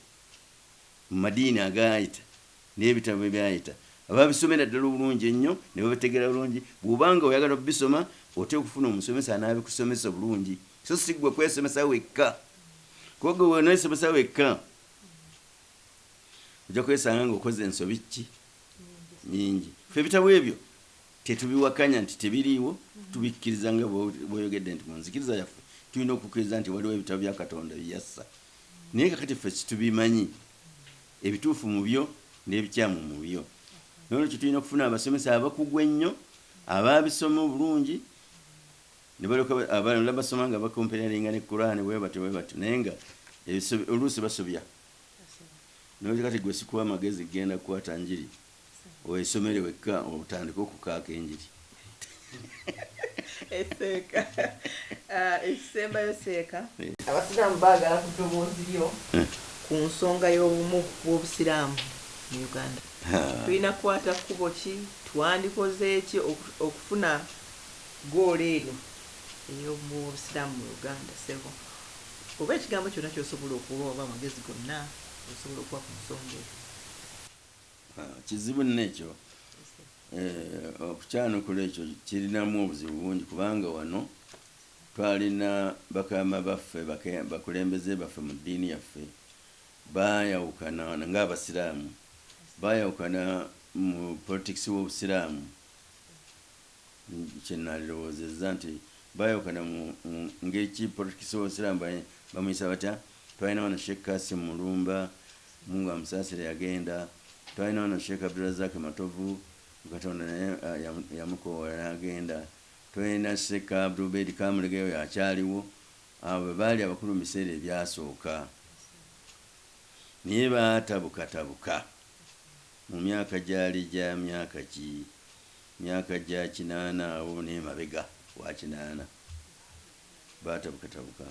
mu madiini agaayita. N'ebitabo ebyayita babisomera ddala obulungi ennyo ne babitegeera bulungi. Bw'oba nga oyagala okubisoma oteekwa okufuna omusomesa anaabikusomesa obulungi so si ggwe kwesomesa wekka kuba ggwe bw'oneesomesa wekka ojja kwesanga ng'okoze ensobi ki? Nnyingi. Ffe ebitabo ebyo tetubiwakanya nti tebiriiwo, tubikkiriza nga bw'oyogedde nti mu nzikiriza yaffe tulina okukkiriza nti waliwo ebitabo bya Katonda bye yassa naye kaakati ffe situbimanyi. ebituufu mu byo n'ebikyamu mu byo. N'olwekyo tulina okufuna abasomesa abakugu ennyo abaabisoma obulungi ne balyoka abalala basoma nga bakomperalinga ne Kuraane bwe batyo bwe batyo naye nga oluusi basobya. N'olwekyo kati ggwe sikuwa magezi kugenda kukwata njiri. Wesomere wekka otandike okukaaka enjiri. Esseeka ekisembayo seeka. Abasiraamu baagala ku ddoboozi lyo ku nsonga y'obumu bw'Obusiraamu mu Uganda. Tulina kukwata kkubo ki? Twandikoze ki okufuna ggoolo eryo ey'obumu bw'Obusiraamu mu Uganda? Ssebo, oba ekigambo kyonna ky'osobola okuwa oba amagezi gonna g'osobola okuwa ku nsonga eyo. Kizibu nno ekyo. Eh, okukyanukula ekyo kirinamu obuzibu bungi kubanga wano twalina bakaama baffe, bake, bakulembeze baffe mu ddiini yaffe baayawukana nga Abasiraamu, baayawukana mu politics w'Obusiraamu. Kye nnalirowoozezza nti baayawukana mu ngeri ki? Politikisi w'Obusiraamu bamuyisa batya? Twalina wano Sheikh Kasim Mulumba, Mungu amusaasire, yagenda. Twalina wano Sheikh Abdulrazak Matovu, Katonda naye yamukoowoola n'agenda. Twalina Sheikh Abdul Ubeid Kamulegeya, oyo akyaliwo. Abo be baali abakulu mu biseera ebyasooka. Naye baatabukatabuka mu myaka gyali gya myaka ki? myaka gya kinaana awo n'emabega wa kinaana, baatabukatabuka.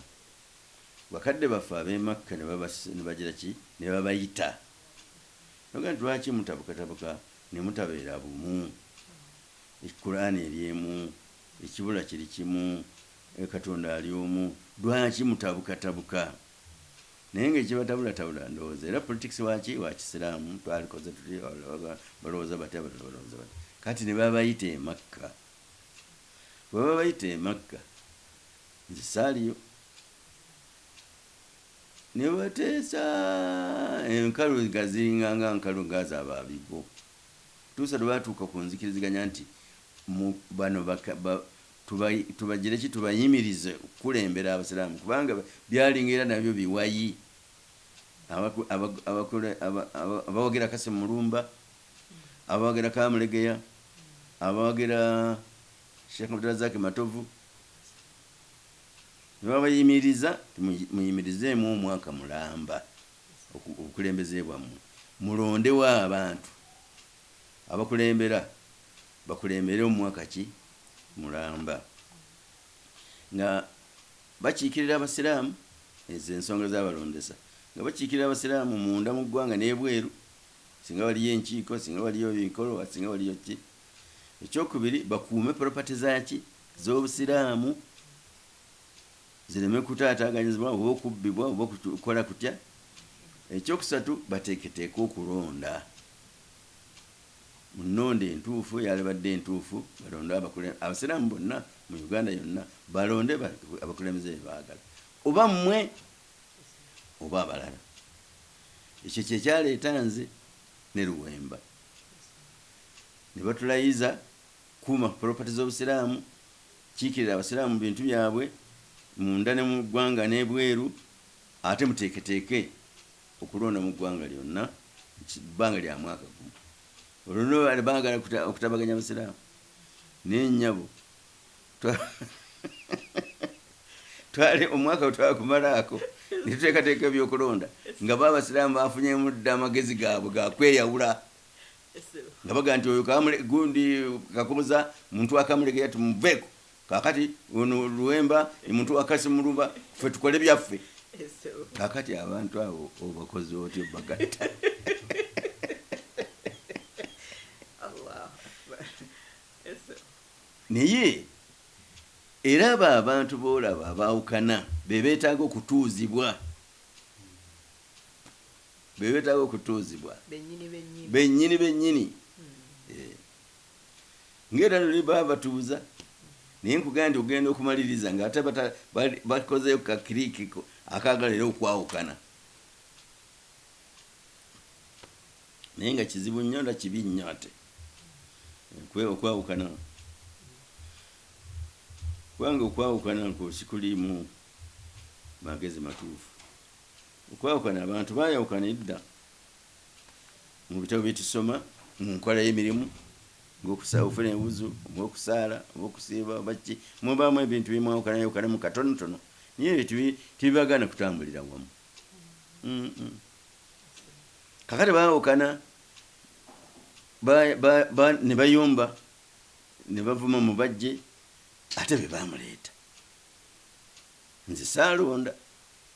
Bakadde baffe ab'e Makka ne babas-, ne bagira ki? Ne babayita. Ne bagamba nti, Lwaki mutabukatabuka ne mutabeera bumu? E, Kuraane eri emu. Ekibula kiri kimu. E, Katonda ali Omu. Lwaki mutabukatabuka? Naye nga ekibatabulatabula ndowooza era politics waki wakisiramu twalikoze tuti abalala baba balowoza bati abalala balowoza bati kati nebabayita emakka bwebaba bayita emakka nze saaliyo nebateesa enkalu nga ziringa nga nkalu nga zababibo tuusa lwebatuuka ku nzikiriziganya nti bano Tuba, tubagire ki? Tubayimirize okukulembera Abasiraamu, kubanga byalinga era nabyo biwayi. Abaku, aba, abakule, aba, aba, abawagira Kassim Mulumba, abawagira Kamulegeya, abawagira Sheikh Abdulrazak Matovu, ne babayimiriza nti, muyi, muyimirizeemu omwaka mulamba oku, obukulembeze bwammwe, mulondewo abantu. abakulembera bakulembere omwaka ki mulamba nga bakiikirira Abasiraamu ezo ze nsonga zaabalondesa nga bakiikirira Abasiraamu munda mu ggwanga n'ebweru singa waliyo enkiiko, singa waliyo ebikolwa, singa waliyo kki. Ekyokubiri bakuume property za ki z'Obusiraamu. zireme kutaataaganyizibwa oba okubbibwa oba okukola kutya, ekyokusatu bateeketeeke okulonda mu nnonda entuufu eyalibadde entuufu balonde abakule abasiraamu bonna mu Uganda yonna balonde abakulembeze be baagala oba mmwe oba abalala ekyo kye kyaleeta nze ne Luwemba ne batulayiza Kuuma property z'obusiraamu, kiikirira abasiraamu mu bintu byabwe munda ne mu ggwanga n'ebweru ate muteeketeeke okulonda mu ggwanga lyonna mu bbanga lya mwaka gumu. Olwo nno bano baagala okutabaganya abasiraamu naye nnyabo twali omwaka we twakumalaako ne tuteekateeka ebyokulonda nga bo abasiraamu baafunyemu dda amagezi gaabwe ga kweyawula. nga bagamba nti oyo kamule gundi kakoboza muntu wa kamulegeya tumuveeko kakati ono luwemba ni muntu wa kasimuluba ffe tukole byaffe kakati abantu abo obakozi otya obagatta naye era abo abantu boolaba abaawukana be beetaaga okutuuzibwa be beetaaga okutuuzibwa bennyini bennyini ng'era luli baba batuuza naye nkugamba nti okugenda okumaliriza ng'ate bakozeeyo ka kiriiki akaagala era okwawukana naye nga kizibu nnyo nda kibi nnyo ate okwawukana kubanga okwawukana nkwo sikuliimu magezi matuufu Okwawukana, abantu baayawukana edda mu bitabo bye tusoma, mu nkola y'emirimu ng'okusa, okufuna enwuzu, oba okusaala, oba okusiiba, oba kiki. Mubaamu ebintu bye mwawukanayawukanamu katonotono, naye ebyo tebi, tebibagaana kutambulira wamu. Mm-mm. Kakati baawukana ba, ba, ba, ne bayomba ne bavuma mubajje ate be baamuleeta. Nze saalonda,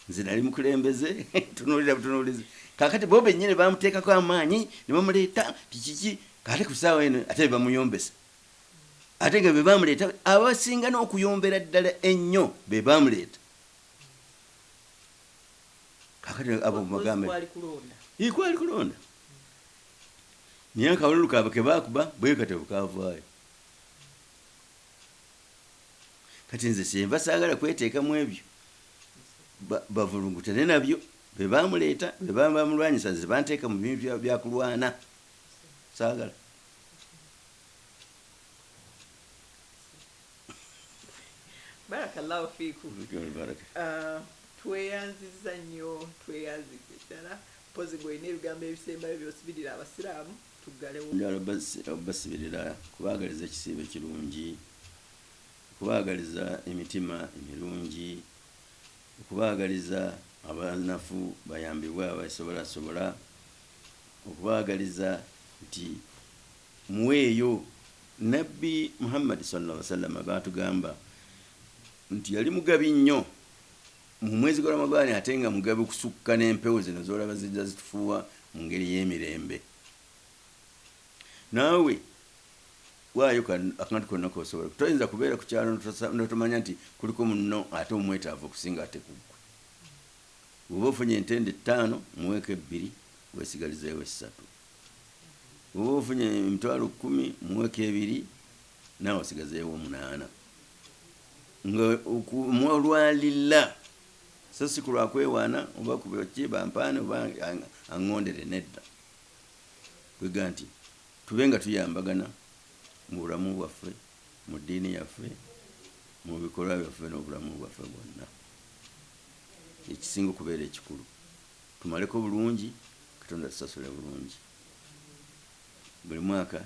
nze nali mukulembeze, tunuulira butunuulizi. Kaakati bo bennyini bamuteekako amaanyi, ne bamuleeta, nti kiki, ate ku ssaawa eno, ate be bamuyombesa. Ate nga be baamuleeta, abasinga n'okuyombera ddala ennyo be baamuleeta. Kaakati abo mubagambe. Ii, kwali kulonda. Naye akawululu kaabwe ke baakuba, bwe katyo bwe kaavaayo. kati nze kyenva sagala kweteeka mu ebyo bavulugutane nabyo bebamuleeta bebabamulwanyisa nze banteeka mu bintu byakulwana sagala barakallahu fiku uh, tweyanziza nnyo tweyanziza eddala mpozi gweolina ebigambo ebisembayo byosibirira abasiraamu tuggalewo. Njagala okubasibirira, okubaagaliza ekisiibo ekirungi, okubaagaliza emitima emirungi, okubaagaliza abanafu bayambibwe abeesobolasobola, okubaagaliza nti muweeyo. Nnabbi Muhammadi swalla Llaahu wa'sallam baatugamba nti yali mugabi nnyo Mu mwezi gwa Ramadhan ate nga mugabi kusukka n'empewo zino z'olaba zijja zitufuuwa mu ngeri y'emirembe. Naawe waayo akantu konna k'osobola. Toyinza kubeera ku kyalo n'otomanya nti kuliko munno ate omwetaavu okusinga ate ku ggwe. Bw'oba ofunye entende ttaano muweeko ebbiri weesigalizeewo essatu. Bw'oba ofunye emitwalo kkumi muweeko ebiri. Naawe osigazeewo munaana nga okumwa olwa lillah so si ku lwa kwewaana oba ku ki bampaane oba aŋŋondere, nedda. Kwegamba nti tube nga tuyambagana mu bulamu bwaffe, mu ddiini yaffe, mu bikolwa byaffe n'obulamu bwaffe bwonna. Kye kisinga okubeera ekikulu. Tumaleko bulungi, Katonda atusasule bulungi. Buli mwaka.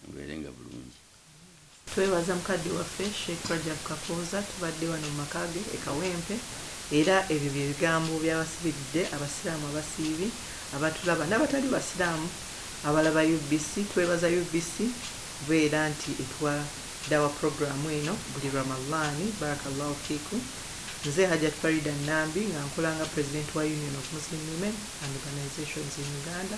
Mubeerenga bulungi. Twebaza mukadde waffe Sheik Rajab Kakooza tubadde wano mu maka ge e Kawempe era ebyo bye bigambo by'abasibiridde Abasiraamu abasiibi abatulaba n'abatali Basiraamu abalaba UBC. Twebaza UBC kubeera nti etuwa Dawah Program eno buli Ramallaani. Barakallahu fiikum. Nze Hajat Faridah Nambi nga nkola nga President wa Union of Muslim Women and Organisations in Uganda.